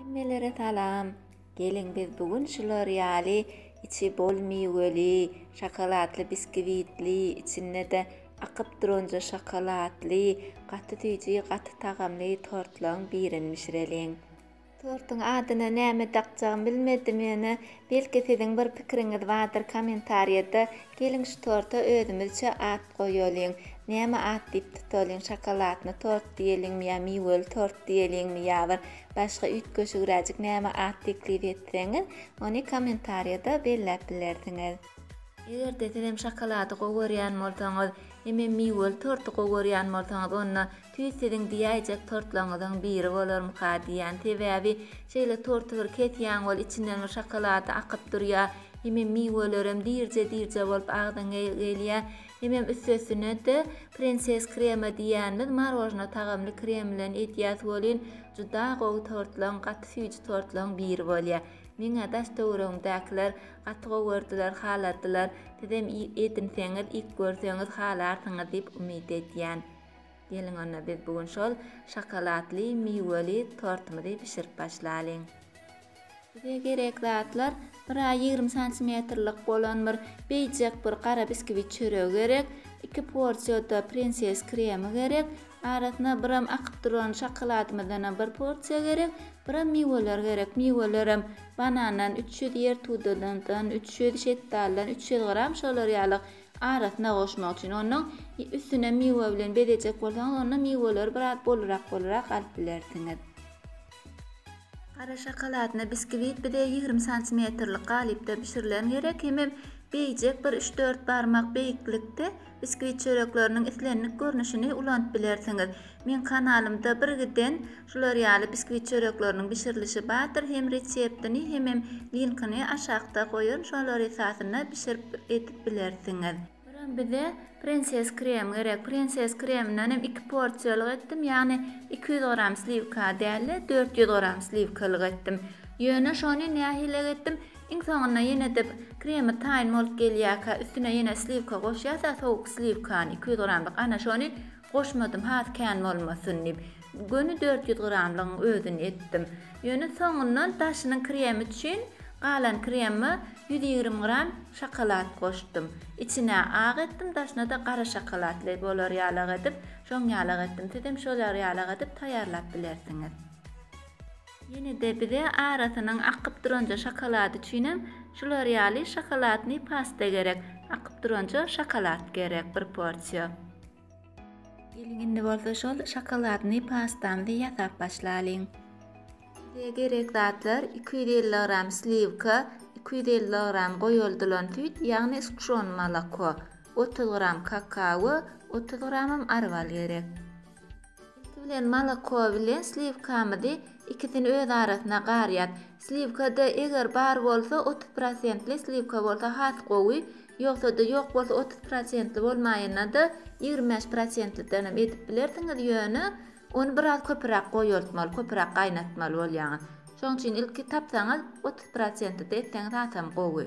Hemmelere salam. Geliň biz bu gün şular ýaly içi bol miweli, şokoladly biskiwitli, içinde-de akyp duranja şokoladly, gaty süýji, gaty tagamly tortlaň birini bişireliň. Tortuň adyna näme dakjagymy bilmedim ýöne Belki siziň bir pikiriňiz bardyr komentarýada geliň şu torta özümizçe at goýalyň. Näme at diýip tutalyň şokoladny tort diýeliňmi ýa miweli tort diýeliňmi ýa bir başga üýtgeşigräjik näme at teklip etseňiz ony komentarýada belläp bilersiňiz. Egerde sizem şokolady gowy görýän bolsaňyz hemem miweli torty gowy görýän bolsaňyz onda Tüýs siziň diýäýjek tortlaryňyzyň biri bolarmyka diýýän, sebäbi şeýle torty bir kesýäň ol içinden bir şokolady akyp durýa, hemem miwelerem dirje dirje bolup agzyň gelýä, hemem üstesine-de prenses krema diýýänimiz marojna tagamly krem bilen edýäs welin juda gowy tortlaň gaty süýji tortlaň biri bolýa. Meňä daş töweregimdäkiler gaty gowy gördüler haladdylar, sizem edinseňiz ik görseňiz halarsyňyz diýip umyt edýän. Geliň onda biz bu gün şol şokoladly miweli tortymyzy bişirip başlalyň. Bize gerek zatlar, bir a ýigrimi santimetrlik bolan bir beýjek bir gara biskwitt çöregi gerek, iki porsiýada prinses kremi gerek, arasyna biram akyp duran şokoladymyzdanam bir porsiýa gerek, biram miweler gerek, miwelerem banandan üç ýüz, ýertudadan üç ýüz, şetdaldan üç ýüz gram şolar ýaly arasyna goşmak üçin. Ondan üstüne miwe bilen bezejek bolsaňyz, onda miweleri biraz bolurak-bolurak alyp bilersiňiz. Gara şokoladny biskiwit bize ýigrimi santimetrlik galypda bişirilen gerek, hemem beýjek bir üç-dört barmak beýiklikde biskiwit çörekleriniň islendik görnüşini ulanyp bilersiňiz. Meň kanalymda birgiden Şular ýaly biskwit çörekleriniň bişirilişi bardyr hem reseptini hemem linkini aşakda goýaryn şolar esasynda bişirip edip bilersiňiz. Biram bize prenses krem gerek prenses kreminden hem iki porsiýalyk etdim ýagny iki ýüz gram sliwka dälde dört ýüz gram sliwkalyk etdim ýöne şony nähilek etdim iň soňunda ýenede kremi taýyn bolup gelýäkä üstüne ýene sliwka goşýasa sowuk sliwkany iki ýüz gramlyk ana şony Goşmadym has kän bolmasyn diýip. Göni dört ýüz gramlygyň özüni etdim. Ýöne soňundan daşynyň kremi üçin galan kremime ýüz ýigrimi gram şokolad goşdum. Içine ak etdim, daşyna-da gara şokoladly bolar ýalak edip, şoň ýalak etdim. Sizem şolar ýalak edip taýýarlap bilersiňiz. Ýene-de bize arasynyň akyp duranja şokolady üçinem şular ýaly şokoladnyý pasta gerek. Akyp duranja şokolad gerek bir porsiýa. Geliň indi bolsa şol şokoladnyý pastamyzy ýasap başlalyň. Bize gerek zatlar, iki ýüz elli gram sliwka, iki ýüz elli gram goýuldylan süýt, ýagny sgşon moloko, otuz gram kakao, otuz gramam arwal gerek. Ilki bilen moloko bilen sliwkamyzy ikisini öz arasyna garýas. Sliwkada eger bar bolsa otuz prosentli sliwka bolsa has gowy, ýogsada ýok bolsa otuz prosentli bolmaýanada ýigrimi bäş prosentlidenem edip bilersiňiz ýöne ony biraz köpüräk goýaltmaly köpüräk gaýnatmaly bolýaňyz. Şoň üçin ilki tapsaňyz otuz prosentlide etseňiz hasam gowy.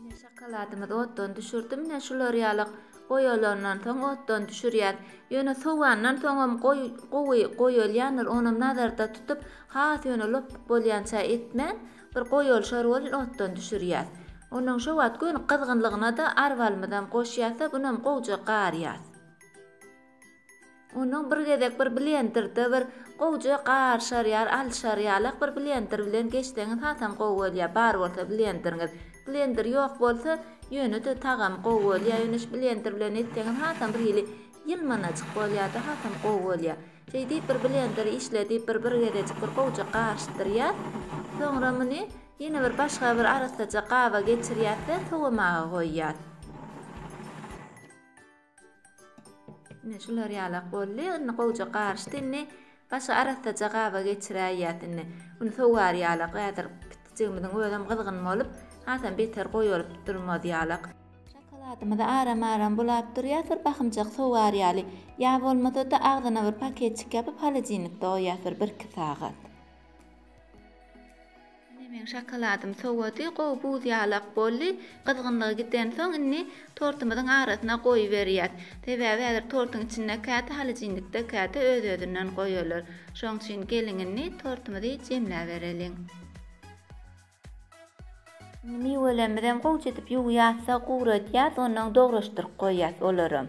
Ine şokoladymyzy otdan düşürdim. Ine şular ýaly goýalandan soň otdan düşürýän. Ýöne sowandan soňam goý gowy goýalýandyr. Onam nazarda tutup, has ýöne lopbuk bolýança etmän, bir goýalşar bolun otdan düşürýäs. Ondan şo wagt göni gyzgynlygyna-da arwalymyzam goşýas-da, bunam gowja garýas. Onuň bir gezek bir blenderde bir gowja garşar ýar alşar ýalak bir blender bilen geçseňiz hasam gowy bolýar bar bolsa blenderiňiz blender ýok bolsa ýöne-de tagamy gowy bolýar ýöne şu blender bilen etseňiz hasam bir hili ýylmanajyk bolýar-da hasam gowy bolýar şeýdip bir blender işledip bir bir gezejik bir gowja garyşdyrýar soňra muny ýene bir başga bir arassaja gaba geçirýäs-de sowamaga goýýas. Ine şular ýalak boldy. Indi gowja garyşdy. Indi başga arassaja gaba geçiräýýäs indi. Indi sogar ýalak. Häzir pitijigimiziň özem gyzgyn bolup, hasam beter goýalyp durmaz ýalak. Şokoladymyzy aram-aram bulap durýas, bir bahymjak sogar ýaly. Ýa bolmasa-da agzyna bir paketjik ýapyp, holodilnikde goýýas bir birki sagat. Ine meň şokoladym sowady, gowy buz ýalak boldy. Gyzgynlygy gidensoň, indi tortumyzyň arasyna goýberýäs. Sebäbi häzir tortuň içinde käte halojinnikde, käte öz-özünden goýalar. Şoň üçin geliň indi tortumyzy jemläbereliň. Indi miwelerimizi hem gowuça edip ýuwýas-da, guradýas, onnoň dograşdyryp goýýas olaram.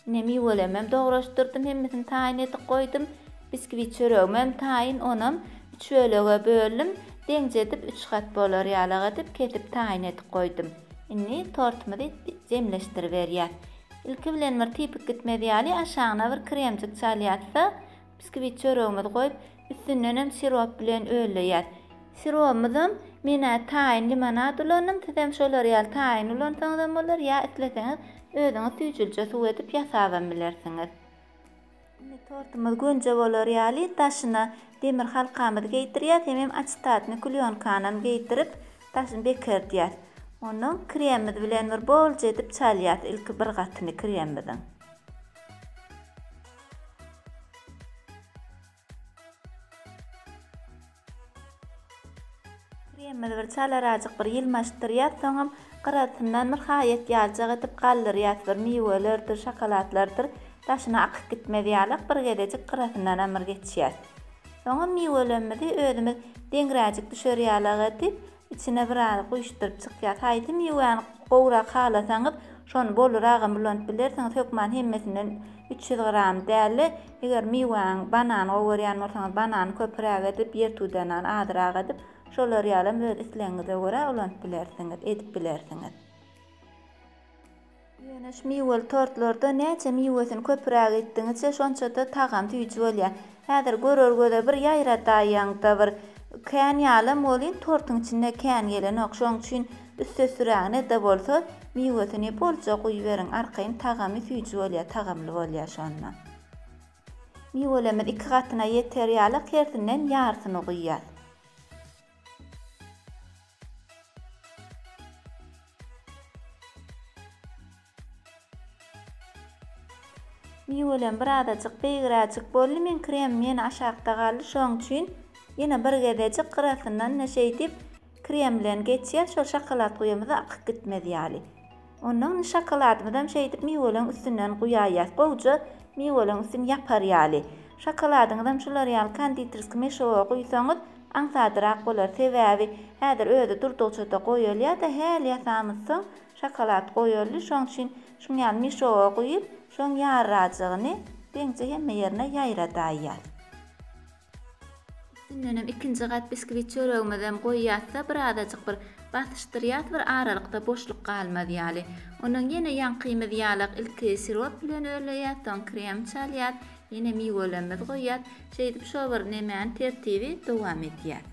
Ine miwelemem dograşdyrdym hemmesini taýyn edip goýdum. Biskwit çöregimem taýyn onam üç bölege böldüm. Deňje edip üç gat bolar ýalak edip kesip taýyn edip goýdum. Indi tortymyzy jemleşdiriberýäs. Ilki bilen bir typyk gitmez ýaly aşagyna bir kremjik çalýasda Biskvit çöregimizi goýup, üstündenem sirop bilen ölleýäs. Sirobymyzam men-ä taýyn limonad ulandym, sizem şolar ýaly taýyn ulansaňyzam bolar, ýa isleseňiz özüňiz süýjülije suw edip ýasabam bilersiňiz. Indi tortumyz gönje bolar ýaly daşyna demir halkamyzy geýdirýäs, hemem açytatny klýonkanam geýdirip, daşyny bekerdýäs. Onnoň kremimiz bilen bir bolja edip çalýas ilki bir gatyny kremimiziň. Kremimizi bir çalarajyk bir ýylmaşdyrýas, soňam gyrasyndan bir haýat ýaljak edip galdyrýas, bir miwelerdir, şokoladlardyr daşyna akyp gitmez ýalak bir gezejik gyrasyndanam bir geçýäs. Soňam miwelemmizi özümiz deňräjik düşer ýalak edip, Içine biraz guýuşdyryp çykýar. Haýsy miwäni gowrak halasaňyz, şony boluragam ulanyp bilersiňiz. Hökman hemmesinden üç ýüz gram däl-de, eger miwäňi, banany gowy görýän bolsaňyz, banany köpüräk edip, ýertudanany azyrak edip, şolar ýalam öz islegiňize görä ulanyp bilersiňiz, edip bilersiňiz. Ýöneş miweli tortlarda näçe miwesini köpüräk etdigiňizçe şonça-da tagam süýji bolýar. Häzir görer göze bir ýaýradaýaňda bir kän ýalam welin tortuň içinde kän gelenok şoň üçin üstesürägine-de bolsa miwesini bolja guýuberiň arkaýyn tagamy süýji bolýar tagamly bolýar şonda. Miwelerimiz iki gatyna ýeter ýalak hersinden ýarsyny guýýas. Miwelem bir azajyk beýgräjik boldy men kremim ýene aşakda galdy şoň üçin ýene bir gezejik gyrasyndan-da şeýdip krem bilen geçýän şol şokolad guýamyza akyp gitmez ýaly. Ondan şokoladymyzam şeýdip miweleň üstünden guýaýýas. Gowja miweleň üstüni ýapar ýaly. Şokoladyňyzam şular ýaly konditerskiý meşowa guýsaňyz aňsadyrak bolar. Sebäbi häzir özi durdugça-da goýulýar-da, häli ýasamyz soň şokolad goýuldy. Şoň üçin şuň ýaly meşowa guýup, şoň ýarrajygyny deňze hemme ýerine ýaýradaýýas. Üstündenem ikinji gat biskwit çöregimizem goýýasda birazajyk bir basyşdyrýas bir aralykda boşluk galmaz ýaly. Ondan ýene ýaňkymyz ýalak ilki sirop bilen örleýäs soň krem çalýas ýene miwelemmiz goýýas şeýdip şo bir nemäni tertibi dowam etýäs.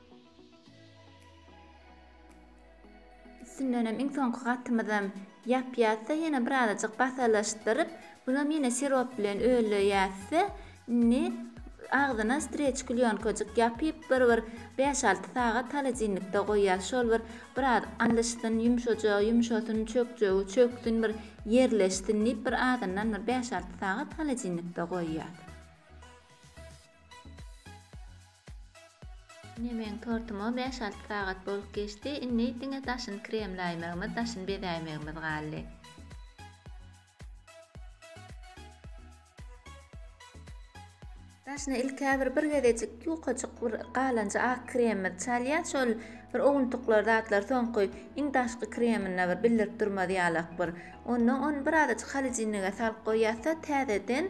Üstündenem iň soňky gatymyzam ýapýas-da, ýene birazajyk basalaşdyryp, bunam ýene sirop bilen öleýäs-de, indi agzyna streç klýonkajyk ýapyp, bir bir bäş-alty sagat holodilnikde goýýas. Şol bir biraz allyşsyn, ýumşajagy ýumşasyn, çökjegi çöksün, bir ýerleşsin diýip, bir azyndan bir bäş-alty sagat holodilnikde goýýas. Ine meň tortuma bäş-alty sagat bolup geçdi, indi diňe daşyny kremläýmegimiz, daşyny bezäýmegimiz galdy. Daşyna ilk-ä bir bir gezejik ýukajyk bir galanja ak kremimizi çalýas, şol bir owuntuklar zatlar soňky iň daşky kreminde bir bildirip durmaz ýalak bir. Onda ony birazajyk holodilnige salyp goýýas-da täzeden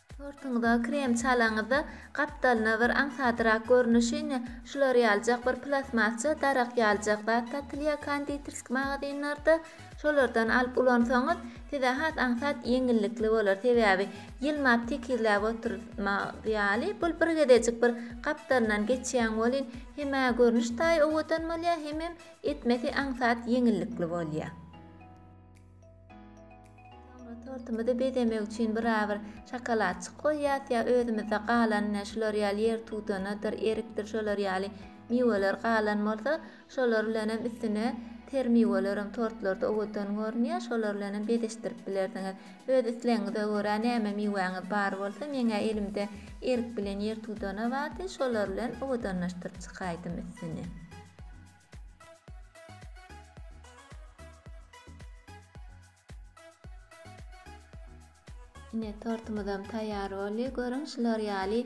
Tortuňyza krem çalaňyzda, gapdalyna bir aňsadrak görnüşi, ine, şular ýalyjak bir plastmasça darak ýalyjak zat satylýar konditerski magazynlarda. Şolardan alyp ulansaňyz, size has aňsat ýeňillikli bolar. Sebäbi, ýylmap tekizläp oturmak ýaly, bul bir gezejik bir gapdalyndan geçýäň welin, hem-ä görnüş taýy owadan bolýar, hemem etmesi aňsat ýeňillikli bolýar. Soňra tortumyzy bezemek üçin birabyr şokoladçyk goýýas ýa özümizde galan ine şular ýaly ýer tudanadyr, erikdir şolar ýaly miweler galan bolsa şolar bilenem üstüne ter miwelerem tortlarda owadan görünýär şolar bilenem bezeşdirip bilersiňiz. Öz islegiňize görä näme miwäňiz bar bolsa meňä elimde erik bilen ýer tudana bardy şolar bilen owadanlaşdyryp çykaýdym üstüni. Ine tortumyzam taýýar boldy. Görüň şular ýaly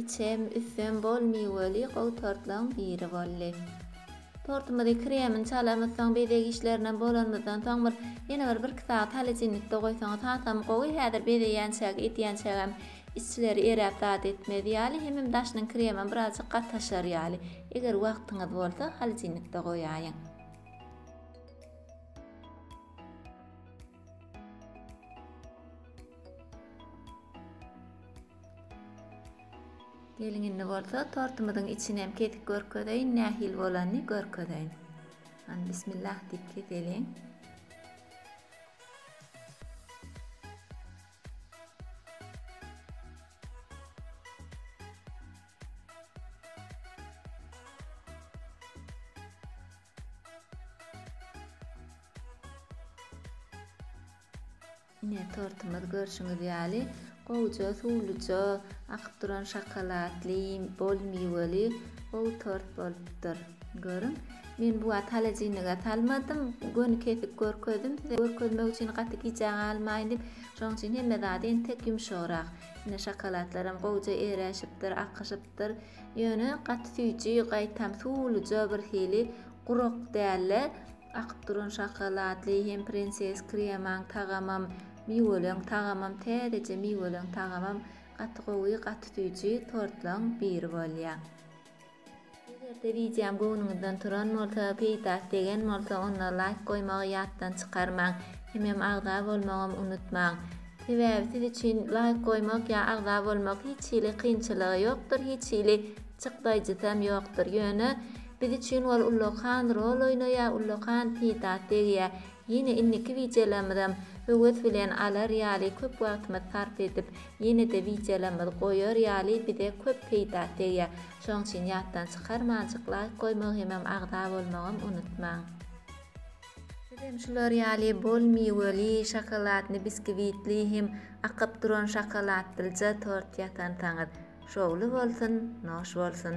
içem, üstem bol miweli gowy tortlaryň biri boldy. Tortumyzy kremini çalamyz soň bezeg işlerinem bolanymyzdan soň bir ýene bir bir-iki sagat holodilnikde goýsaňyz hasam gowy häzir bezeýänçäk edýänçägem Içleri eräp zat etmez ýaly, hemem daşynyň kremem birazjyk gataşar ýaly. Eger wagtyňyz bolsa, holodilnikde goýaýyň. Geliň indi bolsa tortumyzyň içini hem kesip görkezeýin, nähili bolanyny görkezeýin. Hany bismillah diýip keseliň. Ine, tortumyz görşüňiz ýaly, gowuja suwluja, akyp duran şokoladly, bol miweli gowy tort bolupdyr. Görüň, men bu wagt halajinlige salmadym, göni kesik görkezdim, size görkezmek üçin gaty gijä galmaýyn diýip, şonuň üçin hemme zady entek ýumşagrak. Ine, şokoladlaram gowja eräşipdir, akyşypdyr. Ýöne gaty süýji, gaýtam suwluja birhili gurak däl-de, akyp duran şokoladly, hem prinses kremaň tagamam, miweleň tagamam, täzeje miweleň tagamam gaty gowy, gaty süýji tortlaryň biri bolýar. Eger-de wideom göwnüňizden turan bolsa, peýdasy degen bolsa onda laýk goýmagy ýatdan çykarmaň. Hemem agza bolmagam unutmaň. Sebäbi siz üçin laýk goýmak ýa agza bolmak hiç hili kynçylygy ýokdur, hiç hili çykdaýjysam ýokdur. Ýöne biz üçin ol ullakan rol oýnaýar, ullakan peýdasy degýär. Ýene indiki wideolarymyzam höwes bilen alar ýaly köp wagtymyz sarp edip ýenede wideolarymyz goýar ýaly bize köp peýda tegýär şoň üçin ýatdan çykarmanjyk laýk goýmagy hemem agza bolmagam unutmaň. Bizem şular ýaly bol miweli, şokoladny, biskiwitli hem akyp duran şokoladlja tort ýasansaňyz. Şowly bolsun, noş bolsun!